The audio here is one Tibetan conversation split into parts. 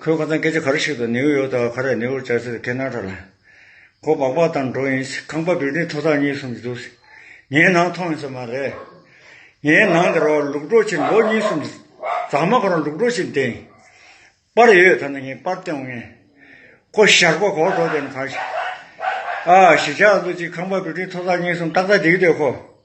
ཁོས་ཁོ་ཚང་སྐད་ཆ་ག་རེ་ཞིག་དང་ནེའུ་ཡོག་དང་ཁ་རས་ནེའུར་བཅར་ཚེ་ཁེ་ནང་ཁྲ་ལ། ཁོ་སྦག་སྦག་དང་འགྲོ་ཡིན། ཁང་པ་བིལ་ལྡིང་ཐོག་ཐག་གཉིས་གསུམ་གྱི་འདུག་ཟེར། ངའི་ནང་མཐོང་ཡོང་ས་མ་རེད། ངའི་ནང་འདིར་བ་ལུག་འགྲོ་ཕྱིར་ལོ་གཉིས་གསུམ་གྱི་རྫ་མ་ཁོ་རང་ལུག་འགྲོ་ཕྱིར་འདེད་ཡིན། པར་ཡོད་ད་ནི་ངས་པར་བསྟན་འོང་ངེས། ཁོ་ཞག་པ་གོག་འགྲོ་དེ་ནི་གང་ཞིག། ཨ། གཞིས་ཆགས་ཀླུ་གཅིག་ཁང་པ་བིལ་ལྡིང་ཐོག་ཐག་གཉིས་གསུམ་ཏག་ཏག་འདེགས་དེ་ཁོ།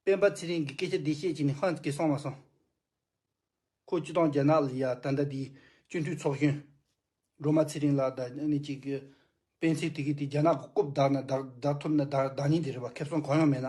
སྤེན་པ་ཚེ་རིང་གིས་སྐད་ཆ་འདི་བཤད་ཅིག་ནི་ཧོན་གྱིས་སོང་ལ་སོང། ཁོ་སྤྱི་སྟངས་རྒྱ་ནག་ལ་ཡ་ད་ལྟ་དེའི་སྤྱི་འཐུས་ཚོགས་གཞོན། སྒྲོལ་མ་ཚེ་རིང་ལགས་ད་ནི་གཅིག་གི། སྤེན་ཚེ་དེ་གིས་དེ་རྒྱ་ནག་གི་རྐུབ་བདག་ན་བདག་བདག་ཐུབ་ན་བདག་བདག་ཉིད་དེ་རེད་བ་ཁེབས་སོང་གང་ཡང་མེད་ན།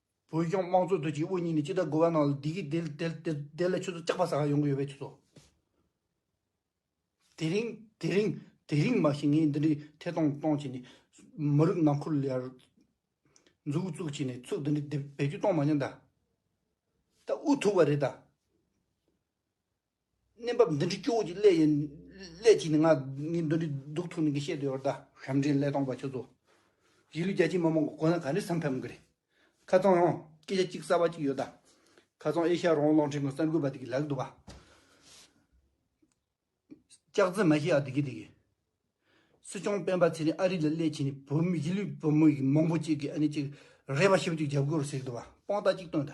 བོད་གཞུང་དམངས་གཙོ་དོད་ཅིག་དབུ་བརྙེས་ནས་ཅི་ལྟར་དགོས་པ་གནང་ལ་དེ་གིས་དེ་ལ་ཁྱོད་ཚོ་སྐྱག་པ་ཟ་ཁར་ཡོང་གི་ཡོད་པས་ཆུ་ཚོ། དེ་རིང་དེ་རིང་དེ་རིང་མ་ཤེས་ངས་འདི་འདྲའི་ཐད་གཏོང་གཏོང་བྱས་ནས། མི་རིགས་ནང་ཁུལ་ལ་ཡར་འཛུགས་བཙུགས་བྱས་ནས་ཚུགས་འདི་འདྲའི་བེད་སྤྱོད་གཏོང་མ་མྱོང་ད། ད་ཨུ་ཐུག་པ་རེད་ད། གནས་བབ་འདི་འདྲའི་སྐྱོ་བོ་ཅིག་སླད་ཡིན། སླད་ཅིག་ནི་ང་ནི་འདི་འདྲའི་སྡུག་ཐུག་ནི་གིས་བཤད་འདོད་ཡོད་ད། ཞབས་འདྲེན་ཀླད་སྟོང་པ་ཁྱོད་ཚོ། གཞིས་ལུས་རྒྱ་ཆེའི་མི་མང་གི་གོ་ན་ག་འདྲའི་བསམ་ཕམ་གི་རེད། ཁ་ཙང་ཡང་སྐད་ཆ་གཅིག་གསར་བ་ཅིག་ཡོད་ད། ཁ་ཙང་ཨེ་ཤ་རོང་གློག་འཕྲིན་གི་གསར་འགོད་པ་དེ་གི་ལག་ཏུ་བ། ལྕགས་རྩི་མ་ཤི་ཨ་དེ་གི་དེ་གི། སྲིད་སྐྱོང་སྤེན་པ་ཚེ་རིང་ཨ་རི་ལ་སླད་ཕྱིན་ནི་བོད་མི་གཞིས་ལུས་བོད་མི་ཡིག་མང་པོ་ཅིག་གི་ཨ་ནི་ཅིག་རེད་པ་ཤོབ་ཅིག་རྒྱབ་སྐོར་ཟེར་གི་འདུག་བ་དཔང་རྟགས་གཅིག་སྟོན་ད།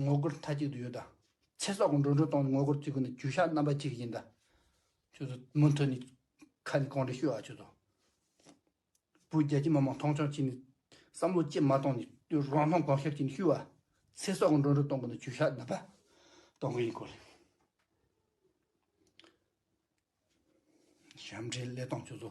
ངོ་རྒོལ་མཐའ་གཅིག་ཏུ་ཡོད། ཚེ་སྲོག་གི་འགྲོ་གྲོན་གཏོང་སྟེ་ངོ་རྒོལ་བརྩི་དགོས་ན་རྒྱུ་ཞགས་རྣམ་པ་གཅིག་ཡིན། ད་ཁྱོད་ཚོ་མུ་མཐུད་ནས་ཁ་ནས་གང་དྲན་ཤོད་ཨ་ཁྱོད་ཚོ། བོད་རྒྱ་ཁྱི་མ་མང་མཐོང་ཆུང་བྱས་ནས་བསམ་བློ་བསྐྱེད་མ་གཏོང་ནས་ཁྱོད་རང་མཐོང་གང་ཤར་བྱས་ནས་ཤོད་ཨ། ཚེ་སྲོག་གི་འགྲོ་གྲོན་གཏོང་དགོས་ན་རྒྱུ་ཞགས་རྣམ་པ་གཏོང་དགོས་ཡིན་སྐོར་རེད། ཞབས་འདྲེན་ཀླད་སྟོང་ཁྱོད་ཚོ།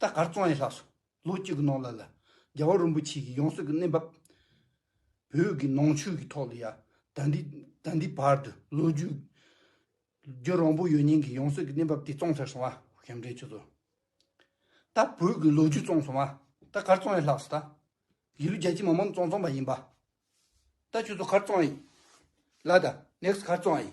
ད་གར་གཙང་ཡི་ལྷགས་སོ། ལོ་གཅིག་གི་ནང་ལ་ལ། རྒྱལ་བ་རིན་པོ་ཆེ་ཡི་ཡང་སྲིད་ཀྱི་གནས་བབས། བོད་ཀྱི་ནང་ཆོས་ཀྱི་ཐོག་ལ་ཡ། ད་འདི་ད་འདི་བར་དུ་ལོ་རྒྱུས། བརྒྱུད་རང་པོ་ཡོད་ཉིན་གྱི་ཡང་སྲིད་ཀྱི་གནས་བབས་དེ་གཙང་ཚར་སོང་བ་གཞན་འབྲེལ་ཆུ་ཚོད། ད་བོད་ཀྱི་ལོ་རྒྱུས་གཙང་སོང་བ། ད་གར་གཙང་ཡི་ལྷགས་སོ། ད་ཡི་ལོ་རྒྱལ་སྤྱི་མ་མམ་གཙང་གཙང་པ་ཡིན་པ། ད་ཆུ་ཚོད་གར་གཙང་ཡི། ལ་ད next གར་གཙང་ཡི།